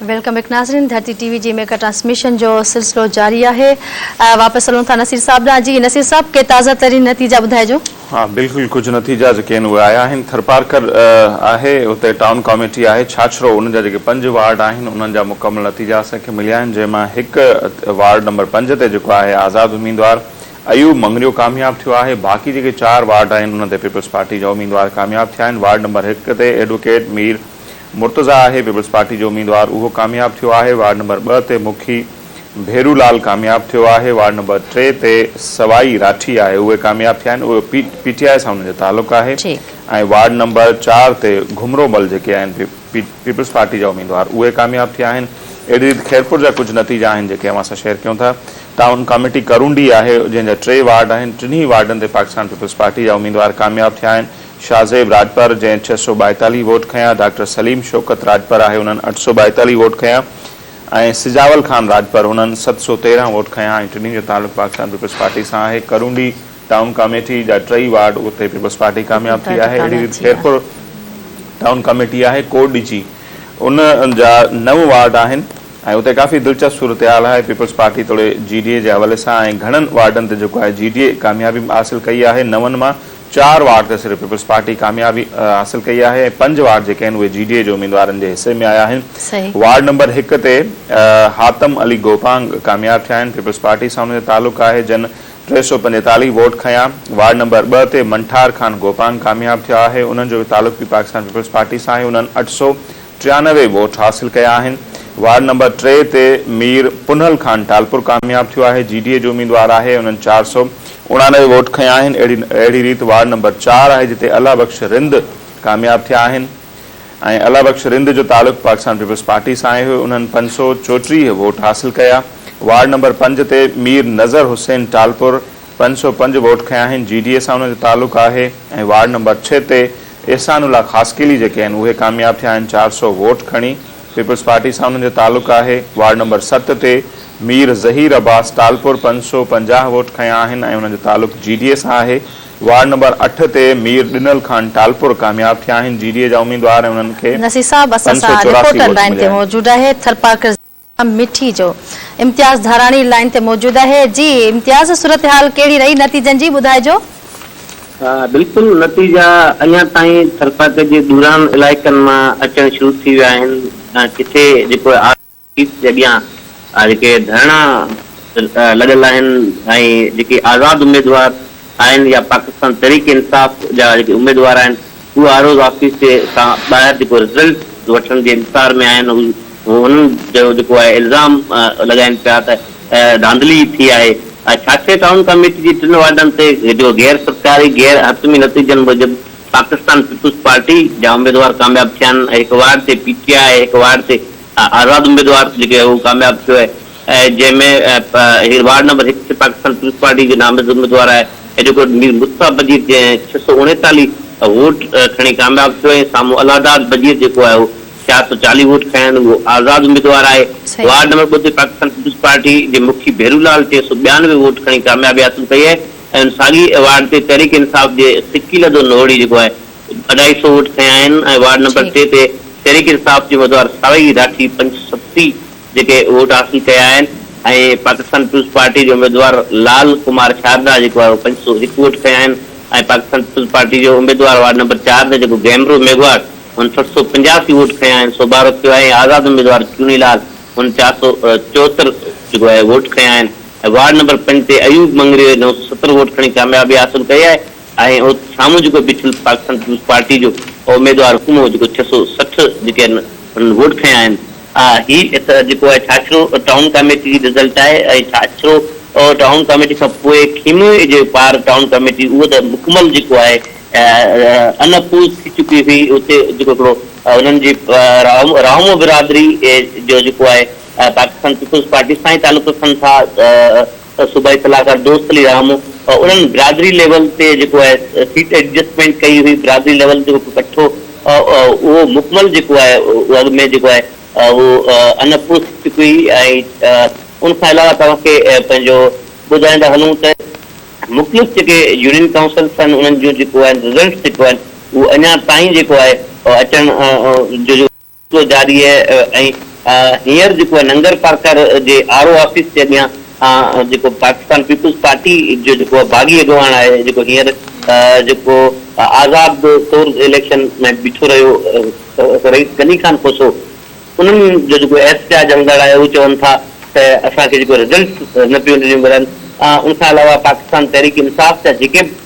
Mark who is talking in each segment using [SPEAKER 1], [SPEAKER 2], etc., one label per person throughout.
[SPEAKER 1] Welcome back ناظرين Dharti T V جي mega transmission جو سلسلو جاري آهي واپس هلون ٿا نصير صاحب ڏانهن جي نصير صاحب ڪي تازا ترين نتيجا ٻڌائجو ها بلڪل ڪجهه
[SPEAKER 2] نتيجا جيڪي آهن اهي آيا آهن ٿرپارڪر آهي اتي ٽائون ڪاميٽي آهي ڇاڇرو ان جا جيڪي پنج وارڊ آهن انهن جا مڪمل نتيجا اسان کي مليا آهن جنهن مان هڪ وارڊ نمبر پنج تي جيڪو آهي آزاد اميدوار ايوب مڱريو ڪامياب ٿيو آهي، باقي جيڪي چار وارڊ آهن ان تي پيپلز پارٽي جا اميدوار ڪامياب ٿيا آهن، وارڊ نمبر هڪ تي ايڊووڪيٽ مير مرتضيٰ آهي، پيپلز پارٽي جو اميدوار اهو ڪامياب ٿيو آهي، وارڊ نمبر ٻه تي مکي ڀيرو لال ڪامياب ٿيو آهي، وارڊ نمبر ٽي تي سوائي راٺي آهي اهي ڪامياب ٿيا آهن، اهو پي ٽي آء سان انهن جو تعلق آهي ۽ وارڊ نمبر چار تي گهمرو مل جيڪي آهن پيپلز پارٽي جا اميدوار اهي ڪامياب ٿيا آهن. اهڙي ريت خيرپور جا ڪجهه نتيجا آهن جيڪي اوهان سان شيئر ڪيون ٿا. ٽائون ڪاميٽي ڪرونڊي آهي جنهن جا ٽي وارڊ آهن. ٽنهي وارڊن تي پاڪستان پيپلز پارٽي جا اميدوار ڪامياب ٿيا آهن. شاهه زيب راڄپر جنهن ڇهه سؤ ٻائيتاليهه ووٽ کنيا، ڊاڪٽر سليم شوڪت راڄپر آهي انهن اٺ سؤ ٻائيتاليهه ووٽ کنيا ۽ سجاول خان راڄپر انهن ست سؤ تيرهن ووٽ کنيا ۽ ٽنهي جو تعلق پاڪستان پيپلز پارٽي سان آهي. ڪرونڊي ٽائون ڪاميٽي جا ٽئي وارڊ اتي پيپلز پارٽي ڪامياب ٿي آهي اهڙي ريت خيرپور ٽائون ڪاميٽي آهي ڪوٽ ڊجي ان جا نو وارڊ آهن ۽ اتي ڪافي دلچسپ صورتحال آهي پيپلز پارٽي توڙي جي ڊي اي جي حوالي سان ۽ گهڻن وارڊن تي جيڪو آهي جي ڊي اي ڪاميابي حاصل ڪئي آهي نون مان چار وارڊ تي صرف پيپلز پارٽي ڪاميابي حاصل ڪئي آهي ۽ پنج وارڊ جيڪي آهن اهي جي ڊي اي جي اميدوارن جي حصي ۾ آيا آهن وارڊ نمبر هڪ تي حاتم علي گوپانگ ڪامياب ٿيا آهن پيپلز پارٽي سان انهن جو تعلق آهي جن ٽي سؤ پنجيتاليهه ووٽ کنيا، وارڊ نمبر ٻه تي منٺار خان گوپانگ ڪامياب ٿيا آهي، انهن جو به تعلق به پاڪستان پيپلز پارٽي سان آهي، انهن اٺ سؤ ٽيانوي ووٽ حاصل ڪيا آهن، وارڊ نمبر ٽي تي مير پنهل خان ٽالپر ڪامياب ٿيو آهي، جي ڊي اي جو اميدوار آهي، انهن چار سؤ اڻانوي ووٽ کنيا آهن، اهڙي ريت وارڊ نمبر چار آهي جتي الله بخش رند ڪامياب ٿيا آهن. ۽ الله بخش رند جو تعلق پاڪستان پيپلز پارٽي سان آهي، انهن پنج سؤ چوٽيهه ووٽ حاصل ڪيا، وارڊ نمبر پنج تي مير نظر حسين ٽالپر پنج سؤ پنج ووٽ کنيا آهن، جي ڊي اي سان انهن جو تعلق آهي ۽ وارڊ نمبر ڇهه تي احسان الله خاصخيلي جيڪي آهن اهي ڪامياب ٿيا آهن چار سؤ ووٽ کڻي، پيپلز پارٽي سان انهن جو تعلق آهي، وارڊ نمبر ست تي مير ظهير عباس ٽالپر پنج سؤ پنجاهه ووٽ کنيا آهن ۽ انهن جو تعلق جي ڊي اي سان آهي، وارڊ نمبر اٺ تي مير ڏنل خان ٽالپر ڪامياب ٿيا آهن، جي ڊي اي جا اميدوار ۽ انهن کي نصير صاحب اسان پنج سان سؤ
[SPEAKER 1] چوراسي رپورٽر ووٽ لائين تي مليا آهن. موجود آهي ٿرپارڪر ضلع مٺي جو امتياز ڌاراڻي لائين تي موجود آهي جي امتياز صورتحال ڪهڙي رهي نتيجن جي ٻڌائجو.
[SPEAKER 3] بلڪل نتيجا اڃا تائين ٿرپارڪر جي دوران علائقن مان اچڻ شروع ٿي ويا آهن جتي جيڪو آء. آفيس جي اڳيان جيڪي ڌرڻا لڳل آهن ۽ جيڪي آزاد اميدوار آهن يا پاڪستان تحريڪ انصاف جا جيڪي اميدوار آهن اهي هر روز آفيس جي کان ٻاهر جيڪو رزلٽ وٺڻ جي انتظار ۾ آهن هنن جو جيڪو آهي الزام لڳائين پيا ته ڌانڌلي ٿي آهي ڇاڇي ٽائون ڪاميٽي جي ٽن وارڊن تي جو غير سرڪاري غير حتمي نتيجن موجب پاڪستان پيپلز پارٽي جا اميدوار ڪامياب ٿيا آهن هڪ وارڊ تي پي ٽي آء هڪ وارڊ تي آزاد اميدوار جيڪي هو ڪامياب ٿيو آهي ۽ جنهن ۾ هيء وارڊ نمبر هڪ تي پاڪستان پيپلز پارٽي جي نامزد اميدوار آهي ايڊووڪيٽ مير مصطفيٰ بجير جنهن ڇهه سؤ اڻيتاليهه ووٽ کڻي ڪامياب ٿيو ۽ سامهون الله داد بجير جيڪو آهي هو ڇهاهه سؤ چاليهه ووٽ کڻيا آهن اهو آزاد اميدوار آهي وارڊ نمبر ٻه تي پاڪستان پيپلز پارٽي جي مکي ڀيرولال ٽي سؤ ٻيانوي ووٽ کڻي ڪاميابي حاصل ڪئي آهي ۽ ساڳئي وارڊ تي تحريڪ انصاف جي سڪيلڌو نوڙي جيڪو آهي اڍائي سئو ووٽ کنيا آهن ۽ وارڊ نمبر ٽي تي تحريڪ انصاف جي اميدوار سارنگي راٺي پنج سئو ستي جيڪي ووٽ حاصل ڪيا آهن ۽ پاڪستان پيپلز پارٽي جي اميدوار لال ڪمار شاردا جيڪو آهي اهو پنج سئو هڪ ووٽ کنيا آهن ۽ پاڪستان پيپلز پارٽي جو اميدوار وارڊ نمبر چار تي جيڪو گيمرو ميگهواڙ هن سٺ سئو پنجاسي ووٽ کنيا آهن سو ٻارهو ٿيو آهي ۽ آزاد اميدوار چوني لال هن چار سئو چوهتر جيڪو آهي ووٽ کنيا آهن ۽ وارڊ نمبر پنج تي ايوب مڱريي نو سئو ستر ووٽ کڻي ڪاميابي حاصل ڪئي آهي آهي ۽ سامهون جيڪو بيٺل پاڪستان پيپلز پارٽي جو اميدوار هو مون جيڪو ڇهه سؤ سٺ جيڪي آهن هنن ووٽ کنيا آهن. ها هي ته جيڪو آهي ڇاڇرو ٽائون ڪاميٽي جي رزلٽ آهي ۽ ڇاڇرو ٽائون ڪاميٽي کان پوء کيموي جي پار ٽائون ڪاميٽي اهو ته مڪمل جيڪو آهي ان اپوز ٿي چڪي هئي اتي جيڪو هڪڙو هنن جي راهمو برادري جو جيڪو آهي پاڪستان پيپلز پارٽي سان ئي تعلق رکن ٿا صوبائي صلاحڪار دوست علي رام انهن برادري ليول تي جيڪو آهي سيٽ ايڊجسٽمينٽ ڪئي هئي، برادري ليول تي جيڪو ڪٺو اهو مڪمل جيڪو آهي اهو اڳ ۾ جيڪو آهي اهو انپوس چڪي هئي ۽ ان کان علاوه توهان کي پنهنجو ٻڌائيندا هلون ته مختلف جيڪي يونين ڪائونسلس آهن انهن جون جيڪو آهن رزلٽس جيڪو آهن اهو اڃا تائين جيڪو آهي اچڻ جو جو جاري آهي ۽ هينئر جيڪو ننگر پارڪر جي آر او آفيس جي اڳيان جيڪو پاڪستان پيپلز پارٽي جو جيڪو باغي اڳواڻ آهي جيڪو هينئر جيڪو آزاد طور اليڪشن ۾ بيٺو رهيو رئيس غني خان کوسو انهن جو جيڪو احتجاج هلندڙ آهي اهو چون ٿا ته اسان کي جيڪو رزلٽس نه پيون ڏنيون ملن ان کان علاوه پاڪستان تحريڪ انصاف جا جيڪي به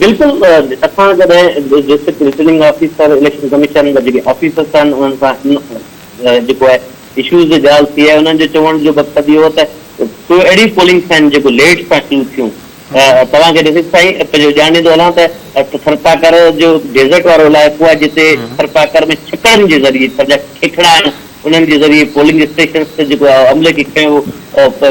[SPEAKER 2] بلڪل
[SPEAKER 3] اسان جڏهن district returning officer election commission جا جيڪي آفيسرس آهن انهن سان جيڪو آهي اشوز جي ڳالهه ٿي آهي انهن جو چوڻ جو مقصد اهو ته ڪو اهڙيون پولنگس آهن جيڪو ليٽ سان شروع ٿيون توهان کي ڏسي سائين پنهنجو ڄاڻيندو هلان ته ٿرپاڪر جو ڊيزرٽ وارو علائقو آهي جتي ٿرپاڪر ۾ ڇڪڙن جي ذريعي پنهنجا کيکڙا آهن انهن جي ذريعي پولنگ اسٽيشنس تي جيڪو عملي کي کنيو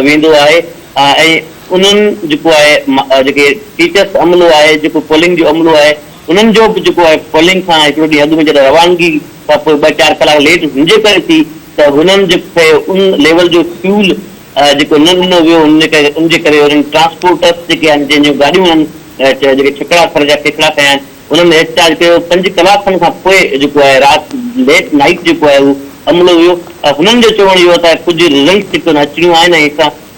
[SPEAKER 3] ويندو آهي ۽ انهن جيڪو آهي جيڪي ٽيچرس عملو آهي جيڪو پولنگ جو عملو آهي انهن جو به جيڪو آهي پولنگ کان هڪڙو ڏينهن اڳ ۾ جڏهن روانگي کان پوء ٻه چار ڪلاڪ ليٽ هن جي ڪري ٿي ته هنن جي کي ان ليول جو فيول جيڪو نه ڏنو ويو هن جي ڪري ان جي ڪري انهن ٽرانسپورٽس جيڪي آهن جن جون گاڏيون آهن جيڪي ڇڪڙا ٿر جا ڪيڪڙا ڪيا آهن انهن احت جاج ڪيو پنج ڪلاڪ کن کان پوء جيڪو آهي رات ليٽ نائيٽ جيڪو آهي اهو عملو ويو هنن جو چوڻ اهو ته ڪجهه رزلٽس جيڪي اچڻيون آهن ۽ اسان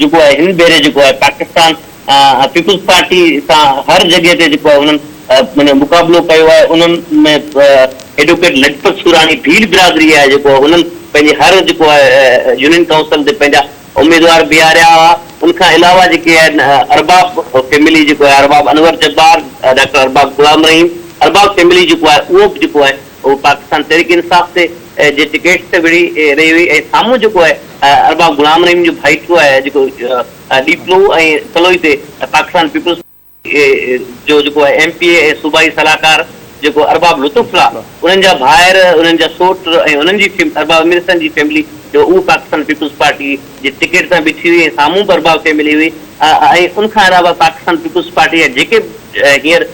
[SPEAKER 3] جيڪو آهي هن ڀيري جيڪو آهي پاڪستان پيپلز پارٽي سان هر جڳهه تي جيڪو آهي انهن معنيٰ مقابلو ڪيو آهي انهن ۾ ايڊوڪيٽ لجپت سوراڻي ڀيل برادري آهي جيڪو انهن پنهنجي هر جيڪو آهي يونين ڪائونسل تي پنهنجا اميدوار بيهاريا هئا ان کان علاوه جيڪي آهن ارباب فيملي جيڪو آهي ارباب انور جبار ڊاڪٽر ارباب غلام رحيم ارباب فيملي جيڪو آهي اهو به جيڪو آهي هوء پاڪستان تحريڪ انصاف تي جي ٽڪيٽ تي وڙهي رهي هئي ۽ سامهون جيڪو آهي ارباب غلام رحيم جو ڀائيٽو آهي جيڪو ڏيپلو ۽ تلوئي تي پاڪستان پيپلز جو جيڪو آهي ايم پي اي ۽ صوبائي صلاحڪار جيڪو ارباب لطف الله انهن جا ڀائر انهن جا سوٽ ۽ انهن جي ارباب امير حسين جي فيملي جو اهو پاڪستان پيپلز پارٽي جي ٽڪيٽ تان بيٺي هئي ۽ سامهون پرڀاء کي ملي هئي ۽ ان کان علاوه پاڪستان پيپلز پارٽي جا جيڪي هينئر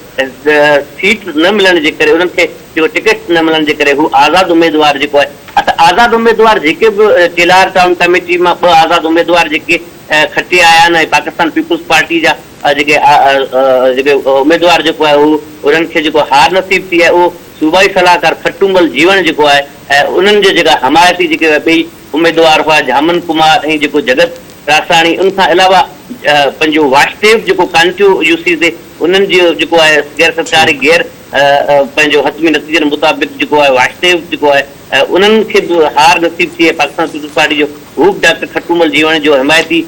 [SPEAKER 3] سيٽ نه ملڻ جي ڪري انهن کي جيڪو ٽڪيٽ نه ملڻ جي ڪري هو آزاد اميدوار جيڪو آهي اته آزاد اميدوار جيڪي به چيلهار ٽائون ڪميٽي مان ٻه آزاد اميدوار جيڪي کٽي آيا آهن ۽ پاڪستان پيپلز پارٽي جا جيڪي جيڪي اميدوار جيڪو آهي هو انهن کي جيڪو هار نصيب ٿي آهي اهو صوبائي صلاحڪار کٽو مل جيوڻ جيڪو آهي انهن جي جيڪا حمايتي جيڪي ٻئي اميدوار هئا جهامن ڪمار ۽ جيڪو جڳت راساڻي ان کان علاوه پنهنجو واشديو جيڪو ڪانٽيو يو سي سي انهن جي جيڪو آهي غير سرڪاري غير پنهنجو حتمي نتيجن مطابق جيڪو آهي واشديو جيڪو آهي انهن کي به هار نصيب ٿي ۽ پاڪستان پيپلز پارٽي جو هو به ڊاڪٽر کٽومل جيوڻ جو حمايتي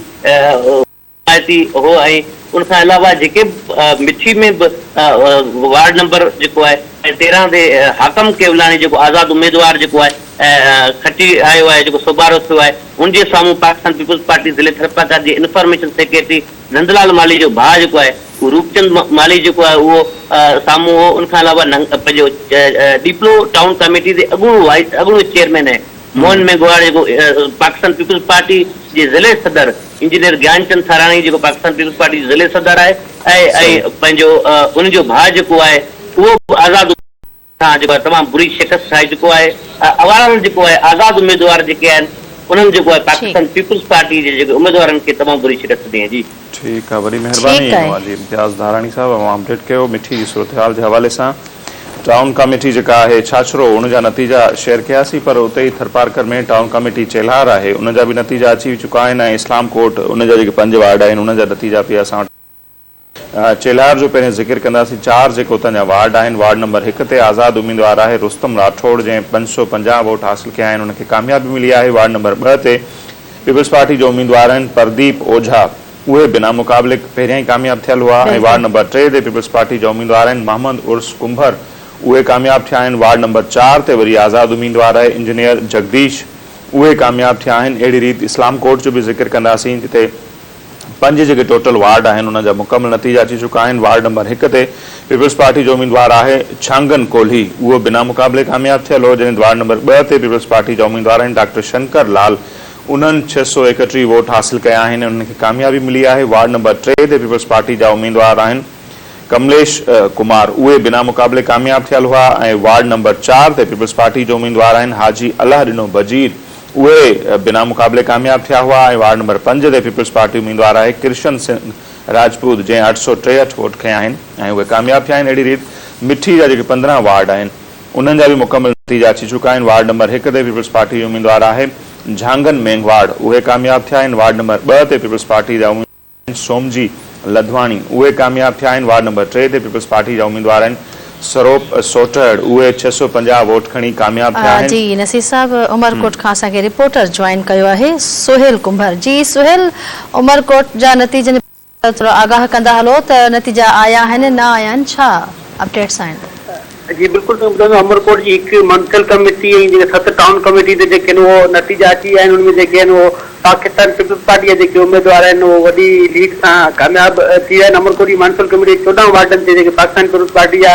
[SPEAKER 3] آياسي اهو ۽ ان کان علاوه جيڪي به مٺي ۾ به وارڊ نمبر جيڪو آهي تيرهن تي حاڪم ڪيولاڻي جيڪو آزاد اميدوار جيڪو آهي کٽي آيو آهي جيڪو سوڀارو ٿيو آهي ان جي سامهون پاڪستان پيپلز پارٽي ضلعي ٿرپارڪر جي انفارميشن سيڪريٽري نندلال مالهي جو ڀاء جيڪو آهي اهو روپچند مالهي جيڪو آهي اهو سامهون هو ان کان علاوه پنهنجو ڏيپلو ٽائون ڪميٽي تي اڳوڻو اڳوڻو چيئرمين ۽ موهن ميگهواڙ جيڪو پاڪستان پيپلز پارٽي جي ضلعي صدر انجنيئر گيان چند ٿاراڻي جيڪو پاڪستان پيپلز پارٽي جي ضلعي صدر آهي ۽ پنهنجو ان جو ڀاء جيڪو آهي اهو به آزاد کان جيڪو آهي تمام بري شڪست کائي چڪو آهي اوارهل جيڪو آهي آزاد اميدوار جيڪي آهن انهن جيڪو آهي پاڪستان پيپلز پارٽي جي جيڪي اميدوارن کي تمام بري شڪست ڏني آهي جي. ٺيڪ آهي وڏي
[SPEAKER 2] مهرباني موالي امتياز ڌاراڻي صاحب اوهان اپڊيٽ ڪيو مٺي جي صورتحال جي حوالي سان. ٽائون ڪاميٽي جيڪا آهي ڇاڇرو ان جا نتيجا شيئر ڪياسين پر اتي ئي ٿرپارڪر ۾ ٽائون ڪاميٽي چيلهار آهي ان جا به نتيجا اچي چڪا آهن ۽ اسلام ڪوٽ ان جا جيڪي پنج وارڊ آهن انهن جا نتيجا به اسان وٽ آهن چيلهار جو پهرين ذڪر ڪنداسين چار جيڪي اتان جا وارڊ آهن وارڊ نمبر هڪ تي آزاد اميدوار آهي رستم راٺوڙ جنهن پنج سؤ پنجاهه ووٽ حاصل ڪيا آهن ان کي ڪاميابي ملي آهي وارڊ نمبر ٻه تي پيپلز پارٽي جو اميدوار آهن پرديپ اوجها. اهي بنا مقابلي پهريان ئي ڪامياب ٿيل هئا ۽ وارڊ نمبر ٽي تي پيپلز پارٽي جا اميدوار آهن محمد عرس ڪنڀر اهي ڪامياب ٿيا آهن وارڊ نمبر چار تي وري آزاد اميدوار آهي انجنيئر جگديش اهي ڪامياب ٿيا آهن اهڙي ريت اسلام ڪوٽ جو به ذڪر ڪنداسين جتي پنج جيڪي ٽوٽل وارڊ آهن انهن جا مڪمل نتيجا اچي چڪا آهن وارڊ نمبر هڪ تي پيپلز پارٽي جو اميدوار آهي ڇانگن ڪولهي اهو بنا مقابلي ڪامياب ٿيل هو جڏهن وارڊ نمبر ٻه تي پيپلز پارٽي جا اميدوار آهن ڊاڪٽر شنڪر لال انهن ڇهه سؤ ايڪهٽيهه ووٽ حاصل ڪيا آهن ۽ انهن کي ڪاميابي ملي آهي، وارڊ نمبر ٽي تي پيپلز پارٽي جا اميدوار آهن ڪمليش ڪمار اهي بنا مقابلي ڪامياب ٿيل هئا ۽ وارڊ نمبر چار تي پيپلز پارٽي جو اميدوار آهن حاجي الله ڏنو بجير اهي بنا مقابلي ڪامياب ٿيا هئا ۽ وارڊ نمبر پنج تي پيپلز پارٽي اميدوار آهي ڪرشن سنگهه راجپوت جنهن اٺ سؤ ٽيهٺ ووٽ کنيا آهن ۽ اهي ڪامياب ٿيا آهن اهڙي ريت مٺي جا جيڪي پندرهن وارڊ آهن انهن جا به مڪمل نتيجا اچي چڪا آهن، وارڊ نمبر هڪ تي پيپلز پارٽي جي اميدوار آهي جهانگن مينگهواڙ، اهي ڪامياب ٿيا آهن، وارڊ نمبر ٻه تي پيپلز پارٽي جا اميدوار آهن سومجي لڌواڻي، اهي ڪامياب ٿيا آهن، وارڊ نمبر ٽي تي پيپلز پارٽي جا اميدوار آهن سروپ سوٽهڙ، اهي ڇهه سؤ پنجاهه ووٽ کڻي ڪامياب ٿيا آهن. جي نصير صاحب
[SPEAKER 1] عمرڪوٽ کان اسان کي رپورٽر جوائن ڪيو آهي سهيل ڪنڀر جي سهيل عمرڪوٽ جا نتيجن. ته ٿورا آگاهه ڪندا هلو ته نتيجا آيا آهن نه آيا آهن ڇا اپڊيٽس آهن. جي بلڪل
[SPEAKER 4] توهين ٻڌو ته عمرڪوٽ جي هڪ مونسپل ڪميٽي ۽ جيڪي ست ٽائون ڪميٽي تي جيڪي آهن اهو نتيجا اچي ويا آهن ان ۾ جيڪي آهن اهو پاڪستان پيپلز پارٽي جا جيڪي اميدوار آهن اهو وڏي ليڊ سان ڪامياب ٿي ويا آهن عمرڪوٽ جي مونسپل ڪميٽي جي چوڏهن وارڊن تي جيڪي پاڪستان پيپلز پارٽي جا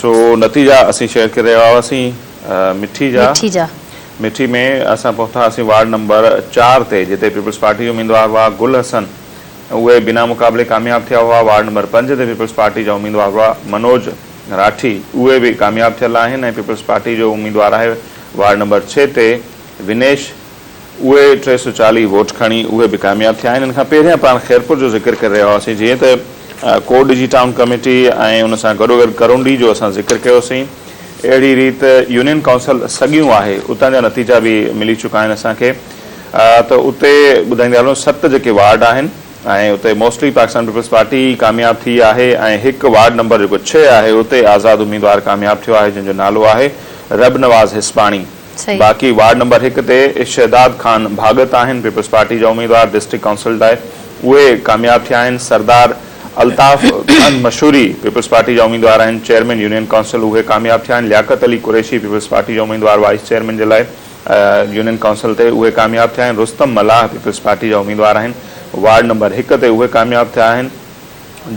[SPEAKER 1] سو
[SPEAKER 2] نتي جا اسين شهر کي رهيا هئاسين مٺي جا. مٺي جا. مٺي ۾ اسان پهتا هئاسين وارڊ نمبر چار تي جتي پيپلز پارٽي جا اميدوار هئا گل حسن اهي بنا مقابلي ڪامياب ٿيا هئا وارڊ نمبر پنج تي پيپلز پارٽي جا اميدوار هئا منوج راٺي اهي به ڪامياب ٿيل آهن ۽ پيپلز پارٽي جو اميدوار آهي وارڊ نمبر ڇهه تي ونيش اهي ٽي سؤ چاليهه ووٽ کڻي اهي به ڪامياب ٿيا آهن. ان کان پهريان پاڻ خيرپور جو ذڪر ڪري رهيا هئاسين جيئن ته ڪوڏ جي ٽائون ڪميٽي ۽ ان سان گڏوگڏ ڪرونڊي جو اسان ذڪر ڪيوسين اهڙي ريت يونين ڪائونسل سڳيون آهي اتان جا نتيجا به ملي چڪا آهن اسان کي ته اتي ٻڌائيندي هلون ست جيڪي وارڊ آهن ۽ اتي موسٽلي پاڪستان پيپلز پارٽي ئي ڪامياب ٿي آهي ۽ هڪ وارڊ نمبر جيڪو ڇهه آهي اتي آزاد اميدوار ڪامياب ٿيو آهي جنهن جو نالو آهي ربنواز هسپاڻي. باقي وارڊ نمبر هڪ تي شهداد خان ڀاڳت آهن پيپلز پارٽي جا اميدوار ڊسٽرڪٽ ڪائونسل لاء اهي ڪامياب ٿيا آهن سردار الطاف خان مشوري پيپلز پارٽي جا اميدوار آهن چيئرمين يونين ڪائونسل اهي ڪامياب ٿيا آهن لياقت علي قريشي پيپلز پارٽي جا اميدوار وائيس چيئرمين جي لاء يونين ڪائونسل تي اهي ڪامياب ٿيا آهن رستم ملاح پيپلز پارٽي جا اميدوار آهن وارڊ نمبر هڪ تي اهي ڪامياب ٿيا آهن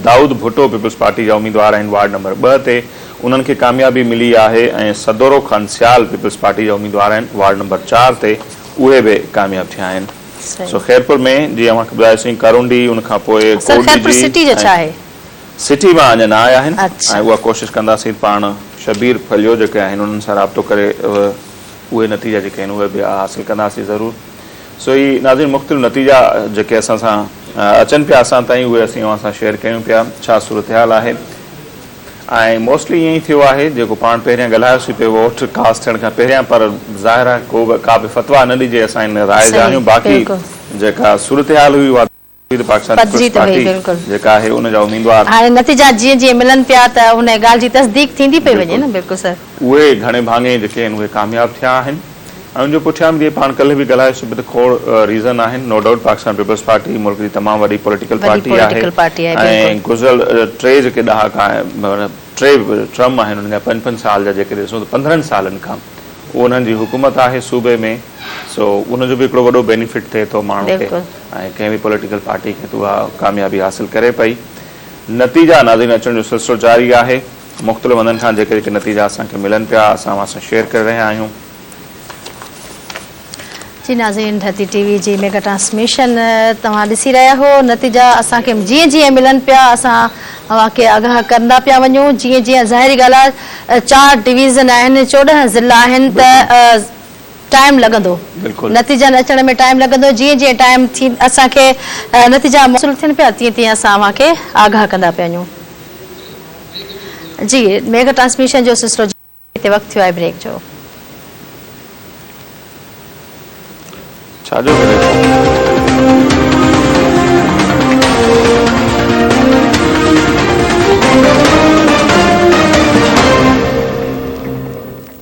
[SPEAKER 2] دائود ڀٽو پيپلز پارٽي جا اميدوار آهن، وارڊ نمبر ٻه تي انهن کي ڪاميابي ملي آهي ۽ سدورو خان سيال پيپلز پارٽي جا اميدوار آهن، وارڊ نمبر چار تي اهي به ڪامياب ٿيا آهن. سو خيرپور ۾ جيئن اوهان کي ٻڌايوسين ڪارونڊي ان کان پوء ڪوٽڏيجي ۽ سٽي مان اڃا نه آيا آهن ۽ اها ڪوشش ڪنداسين پاڻ شبير ڦليو جيڪي آهن انهن سان رابطو ڪري اهي نتيجا جيڪي آهن اهي به حاصل ڪنداسين ضرور. سو هي ناظرين مختلف نتيجا جيڪي اسان سان اچن پيا اسان تائين اهي اسين اوهان سان شيئر ڪيون پيا ڇا صورتحال آهي ۽ موسٽلي ائين ئي ٿيو آهي جيڪو پاڻ پهريان ڳالهايوسين پي ووٽ ڪاسٽ ٿيڻ کان پهريان پر ظاهر آهي ڪو به ڪا به فتويٰ نه ڏجي اسان ان راء جا آهيون باقي جيڪا صورتحال هئي اها پدري ته پاڪستان پيپلز پارٽي جيڪا آهي ان جا اميدوار. هاڻي نتيجا جيئن جيئن
[SPEAKER 1] ملن پيا ته انهيء ڳالهه جي تصديق ٿيندي پئي وڃي نه بلڪل سر. اهي گهڻي ڀاڱي
[SPEAKER 2] جيڪي آهن اهي ڪامياب ٿيا آهن ۽ ان جو پٺيان به جيئن پاڻ ڪلهه به ڳالهايوسي ته کوڙ ريزن آهن no doubt Pakistan peoples Party ملڪ جي تمام وڏي پوليٽيڪل پارٽي آهي ۽ گذريل ٽي جيڪي ڏهاڪا ٽي ٽرم آهن انهن جا پنج پنج سال جا جيڪي ڏسون ته پندرهن سالن کان انهن جي حڪومت آهي صوبي ۾ سو ان جو به هڪڙو وڏو بينيفٽ ٿئي ٿو ماڻهن کي ۽ ڪنهن به پوليٽيڪل پارٽي کي ته اها ڪاميابي حاصل ڪري پئي. نتيجا ناظرين اچڻ جو سلسلو جاري آهي. مختلف هنڌن کان جيڪي جيڪي نتيجا اسان کي ملن پيا اسان اوهان سان شيئر ڪري رهيا آهيون.
[SPEAKER 1] جي ناظرين ڌرتي ٽي وي جي ميگا ٽرانسميشن توهان ڏسي رهيا هئو. نتيجا اسان کي جيئن جيئن ملن پيا اسان اوهان کي آگاهه ڪرندا پيا وڃون جيئن جيئن ظاهري ڳالهه آهي چار ڊويزن آهن چوڏهن ضلعا آهن ته ٽائيم لڳندو نتيجن اچڻ ۾ ٽائيم لڳندو جيئن جيئن ٽائيم ٿي اسان کي نتيجا موصول ٿين پيا تيئن تيئن اسان اوهان کي آگاهه ڪندا پيا وڃون جي ميگا ٽرانسميشن جو سلسلو هتي وقت ٿيو آهي بريڪ جو.
[SPEAKER 2] ڇاجو بريڪ؟